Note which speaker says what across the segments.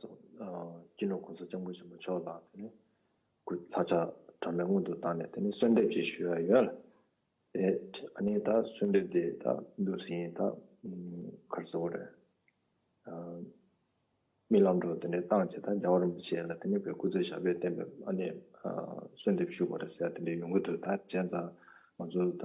Speaker 1: སྤྱི་ནོར་གོང་ས་སྤྱང་པོ་ཆེན་པོ་མཆོག་ལ་དེ་ནས་གུ་ལྷ་ཆ་གྲངས་མེད་སྔོན་དུ་བཏང་ནས་དེ་ནས་གསོལ་འདེབས་བཅས་ཞུས་པ་ཡོད། དེ་ནས་ད་གསོལ་འདེབས་དེ་ད་འདུག་ཟིན་ད་གར་ཟེར་བ་རེད། རྨི་ལམ་འགྲོ་དེ་ནས་བཏང་བྱས་ད་རྒྱ་བོ་རིན་པོ་ཆེ་ལ་དེ་ནས་བོད་སྐུ་ཚེ་ཞབས་པད་བརྟན་པའི་གསོལ་འདེབས་ཞུ་དགོས་རེད་ཟེར་ཡ་དེ་འདྲའི་ཡོང་གི་འདུག་ད་གཞན་ད་ང་ཚོ་ད་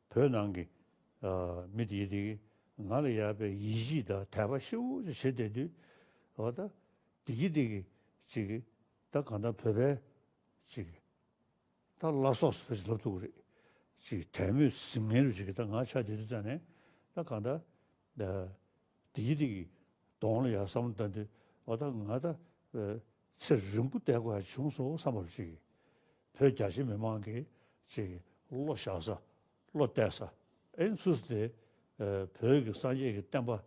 Speaker 2: བོད་ནང་གི་མི་དེ་དེ་གིས་ང་ལ་ཡག་པའི་ཡིད་གཞིས་ད་དད་པ་ཤི་བོ་ཅིག་བྱེད་བསྡད་དུས། འོ་ད་དེ་གིས་དེ་གིས་ཅིག་ད་གང་ལྟར་བོད་པས་ཅིག་ད་བླ་སྲོག་སྲིད་པ་ཅིག་ལབ་ཐུབ་ཀྱི་རེད་ཅིག་དད་མོས་གཟིམ་ངན་རུ་ཅིག་ད་ང་ཆ་དེ་དུས་བཙལ་ནས་ད་གང་ལྟར་དེ་གིས་དེ་གིས་གདོང་ལ་ཡག་བསམ་བློ་བཏང་དུས་འོ་ད་ང་ད་ཚེ་རིང་པོ་བསྡད་དགོས་བྱུང་སོང་བསམ་བབ་ཅིག་ཡིན། བོད་རྒྱ་ཆེ་མི་མང་གིས་ཅིག་བློ་བཞག་ས། བློ་གཏད་ས། ཨེན་ཚུལ་ས་དེ། བོད་ཀྱི་སངས་རྒྱས་ཀྱི་བསྟན་པ།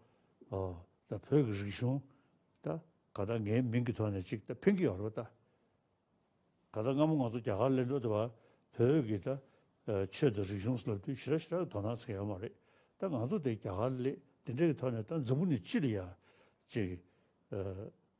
Speaker 2: ད་བོད་ཀྱི་རིག་གཞུང། ད་ག་ད་ངའི་མིང་གི་ཐོག་ནས་ཅིག་ད་ཕིང་གི་ཡོ་རོ་ད། ག་ད་སྔ་མོ་ང་ཚོ་རྒྱ་གར་གླེང་དྲོ་དེ་བ། བོད་ཀྱི་ད། ཆོས་དང་རིག་གཞུང་སློབ་དུས་ཞི་ར་ཞི་ར་གི་དོ་སྣང་ཚེ་ཡོད་མ་རེད། ད་ང་ཚོ་དེ་རྒྱ་གར་གླེ་དེ་འདྲའི་གི་ཐོག་ནས་ད་འཛམ་བུ་ནས་ཅི་ལ་ཡ། ཅིག།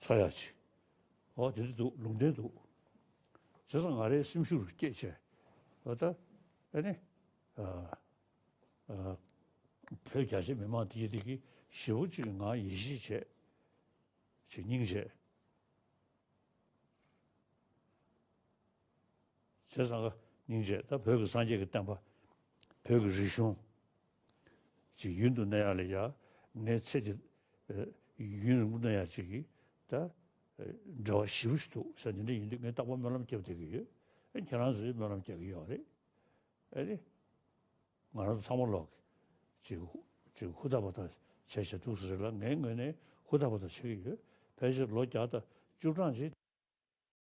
Speaker 2: ཚོ་ཡག་བྱེད། འོ་དེ་འདྲ་འདུག་ལུང་བསྟན་འདུག། བྱས་ཙང་ང་རའི་སེམས་ཤུགས་རུ་སྐྱེད་བྱས། འོ་ད། ཨ་ནི། བོད་རྒྱ་ཆེ་མི་མང་དེ་གི་དེ་གི་ཞེ་བོ་གཅིག་གི་ངང་ཡིད་ཆེས་བྱས། བྱེད་སྙིང་བྱས། ཟེར། སངྒྷ་སྙིང་རྗེ་ད་བོད་ཀྱི་སངས་རྒྱས་ཀྱི་བསྟན་པ། བོད་ཀྱི་རིག་གཞུང། ཅིག་ཡུན་དུ་གནས་ཡག་ལས་ཡག་ངའི་ཚེ་འདི། ཡུན་རིང་པོ་གནས་ཡག་ཅིག་གིས་ད། འབྲེལ་བ་ཞི་བོ་ཞིག་འདུག་ས་འདི་འདྲ་ཡིན་དུས་ངས་རྟག་པར་སྨོན་ལམ་རྒྱབ་བསྡད་ཀྱི་ཡོད། ཁྱེད་རང་ཚོས་སྨོན་ལམ་རྒྱག་གི་ཡོད་རེད། ཨེ་རེད། ང་རང་ཚོ་ཚང་མ་ལོག་གི། ཅིག་ཧུར་ཐག་པ་ཐག་བྱས་བྱས་འདུག་ས་རེད་ལ་ངའི་ངོས་ནས་ཧུར་ཐག་པ་ཐག་བྱེད་ཀྱི་ཡོད། ཕལ་ཆེར་ལོ་བརྒྱ་དང་བཅུ་གྲངས་རྗེས།